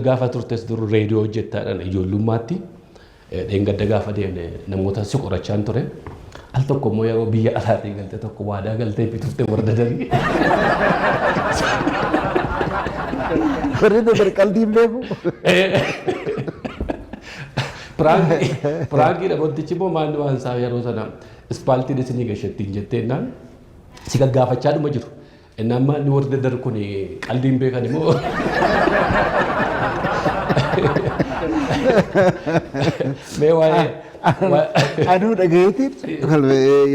Gaafa turtes dur reediyoo hojjettaadhaan ijoollummaatti dheengadda gaafa deemne namoota si qorachaan ture. Al tokko immoo yeroo biyya alaatii galte tokko waadaa galtee fi turte warra dadarii. Warri dadar qalbii hin beeku. Piraangii piraangii dhaboottichi immoo maanni waan isaa yeroo sana ispaaltiin isinii gashattiin jetteennaan si gaggaafachaa dhuma jiru. Inni amma inni warri daddarbu kun qaldii hin beekani moo? Mee waa'ee Anuu dhagayeetiin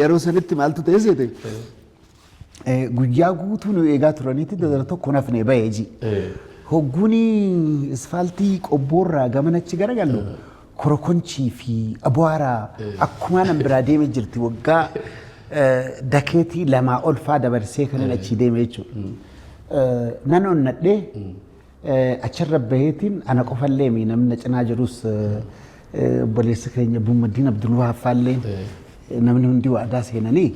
yeroo sanitti maaltu ta'e seete guyyaa guutuu nu eegaa turaniitti dadara tokko nafne ba'e ji. Hogguun isfaaltii qobboorraa gamanachi garagallu korokonchii fi abwaara akkumaa nan biraa deeme jirti waggaa eh, dakeetii lamaa olfaa dabarsee kanan achii deeme jechuudha. Eh, Nan onnadhee eh, achirra baheetiin ana qofallee mi namni na cinaa jirus eh, eh, obboleessi keenya Bummaddiin Abdulwahaab faallee namni hundi waadaa seenanii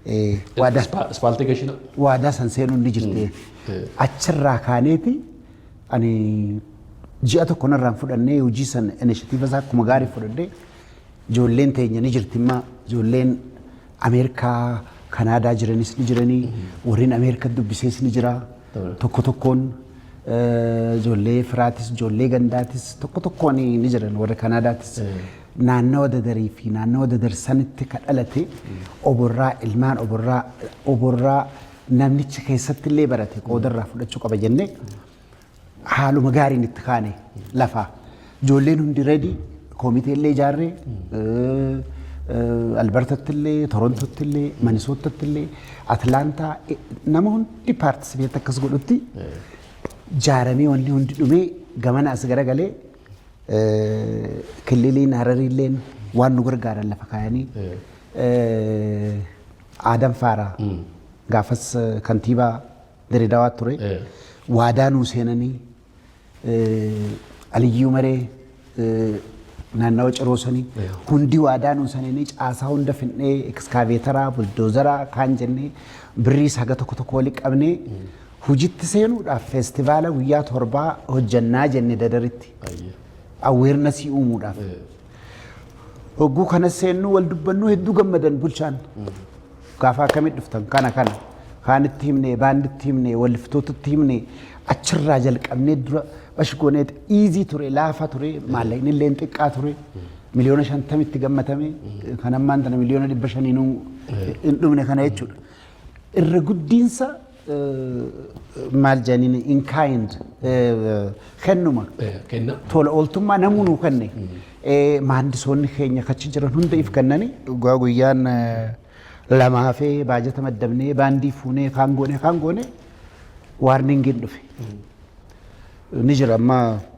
eh, waadaa Ispaaltee gashina. waadaa san seenuun ni jirti. Achirraa kaaneeti Ani ji'a tokko narraa hin fudhannee hojii sana inishatiiva isaa akkuma gaarii fudhadhee ijoolleen teenya ni jirti immaa ijoolleen Ameerikaa Kanaadaa jiranis ni jiranii warreen Ameerikaa dubbisees ni jira tokko tokkoon eh, ijoollee firaatis ijoollee gandaatis tokko tokkoon ni jiran warra Kanaadaatis naannawa dadarii fi naannawa dadar sanitti ka dhalate oborraa ilmaan oborraa oborraa namnichi keessatti illee barate qooda irraa fudhachuu qaba jennee haaluma gaariin itti kaane lafaa. Ijoolleen hundi reedii koomitee illee ijaarree Albertatti illee Torontotti illee Manisootatti illee Atlaantaa nama hundi paartisipeet akkas godhutti jaaramee wanni hundi dhumee gamana as garagalee kililiin hararii illeen waan nu gargaaran lafa kaayanii Aadam Faaraa gaafas kantiibaa Diredawaa ture. Waadaa nuu seenanii Aliyyuu Maree naannawa ciroo sanii hundi waadaa nuu seenanii caasaa hunda finnee ekskaaveetaraa, buldoozaraa kaan jennee birriis haga tokko tokko wali qabnee hojitti seenuudhaaf feestivaala guyyaa torbaa hojjannaa jenne dadaritti. Awweernasii uumuudhaaf. Hogguu kana seennuu wal dubbannuu hedduu gammadan bulchaan. Gaafa akkamitti dhuftan kana kana kaanitti himnee baanditti himnee walliftootatti himnee achirraa jalqabnee dura bashgooneet iizii ture laafa ture maallaqni illee xiqqaa ture miliyoona shantamitti gammatame kan ammaan tana miliyoona dhibba shaniinuu hin dhumne kana jechuudha. Irra guddiinsa maal jedhaniin in kind kennuma Kenna. tola ooltummaa namuu nuu kenne Eh, maandisoonni keenya kachi jiran hunda if kennani dhugaa guyyaan eh, lama hafee baajata maddabnee baandii fuunee kaan goone kaan goone waarningiin dhufe ni jira amma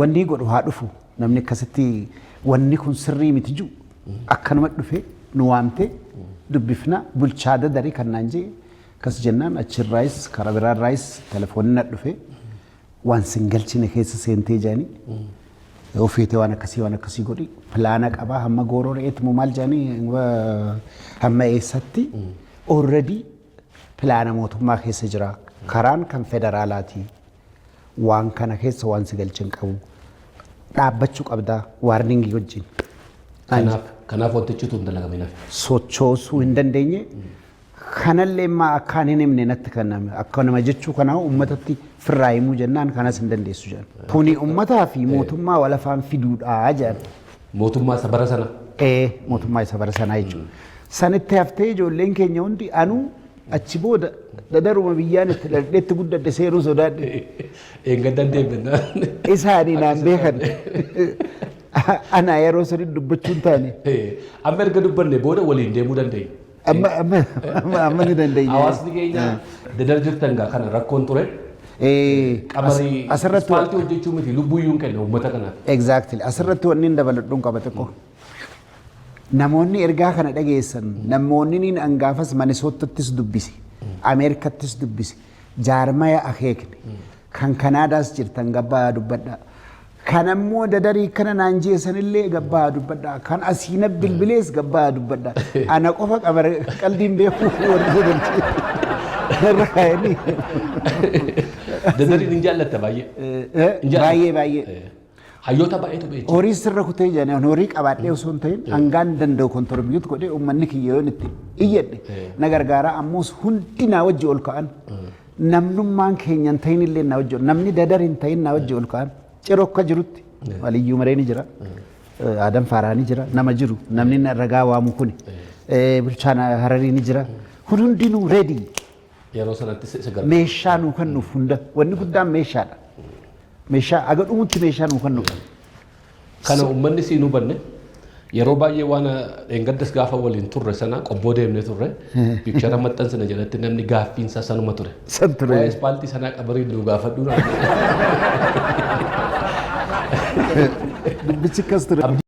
Wannii godhu haa dhufu namni akkasitti wanni kun sirrii miti jiru akkanuma dhufe nu waamte dubbifna bulchaa dadari kan naan jee akkas jennaan achirraayis karaa biraarraayis telefoonni na dhufe waan sin galchine keessa seentee jaanii yoo feete waan akkasii waan akkasii godhi pilaana qabaa hamma gooroo re'eetti moo maal jaanii hamma eessatti already pilaana mootummaa keessa jira. Karaan kan federaalaati. Waan kana keessa waan si galche hin qabu. Dhaabbachuu qabda waarningii wajjin. Kanaaf kanaaf wantichi tun dalagame nafe. sochoosuu hin dandeenye. Kanallee immaa akkaan hin himne natti kan nama akka nama jechuu kanaa uummatatti firraa himuu jennaan kanas hin dandeessu jedhan. Kuni uummataa fi mootummaa wal afaan fiduudhaa jedhan. Mootummaa isa bara sana. Ee, mootummaa isa bara sanaa jechuudha. San itti haftee ijoolleen keenya hundi anuu achi booda dadaruma biyyaan itti dhaldheetti guddadhe seenuu sodaadhe. Eeggataan deebinnaa. Isaanii naan beekan. Anaa yeroo sanii dubbachuun taane. Amma erga dubbanne booda waliin deemuu dandeenya. Amma amma amma amma ni dandeenya. Hawaasni keenya dadar jirtan gaa kana rakkoon ture. Eh, Qamarii as- asirratti wa- ispaaltii hojjechuu miti lubbuyyuu hin kenna uummata kanaaf. Exactly. Asirratti wanni hin dabaladhuun qaba xiqqoo. Namoonni ergaa kana dhageessan namoonni niin angaafas Manisootattis dubbise, Ameerikattis dubbise, jaarmaya akeekne, kan Kanaadaas jirtan gabbaa dubbadhaa. Kan ammoo dadarii akkana naan jee sanillee gabbaa dubbadha. Kan asii na bilbilees gabbaa dubbadha. Ana qofa qabare qaldiin beekuu warri godhan. Irra kaa'anii. Dadariin hin jaallatta baay'ee. Eh, Hin jaallatta. Baay'ee baay'ee. Eh, Hayyoota baay'eetu beeku. Horii sirra kutee jedhan horii qabaadhee osoo hin ta'in hangaan danda'u kontorbiyyuutti godhee uummanni kiyya yoon itti iyyadhe na gargaara ammoos hundi naa wajji ol ka'an Namnummaan keenya hin ta'in illee na wajjin namni dadar hin ta'in na wajjin ol ka'an ciroo akka jirutti waliyyuu maree ni jira. Aadaan faaraa ni jira nama jiru namni na- ragaa waamu kuni Eh, bulchaan hararii ni jira kun hundinuu reedii Yeroo sanatti si si gargaaru. meeshaa nuu kennuuf hunda wanni guddaan meeshaadha. Meeshaa aga dhumutti meeshaa nuu kennuuf. Kana uummanni siin hubanne yeroo baay'ee waan dheengaddas gaafa waliin turre sana qobboo deemnee turre piikchara maxxansina jedhatti namni gaaffiinsaa sanuma ture. San ture. Waa'ee ispaaltii sanaa qabarii nu gaafadhu naan jedhe. Dubbichi akkas ture.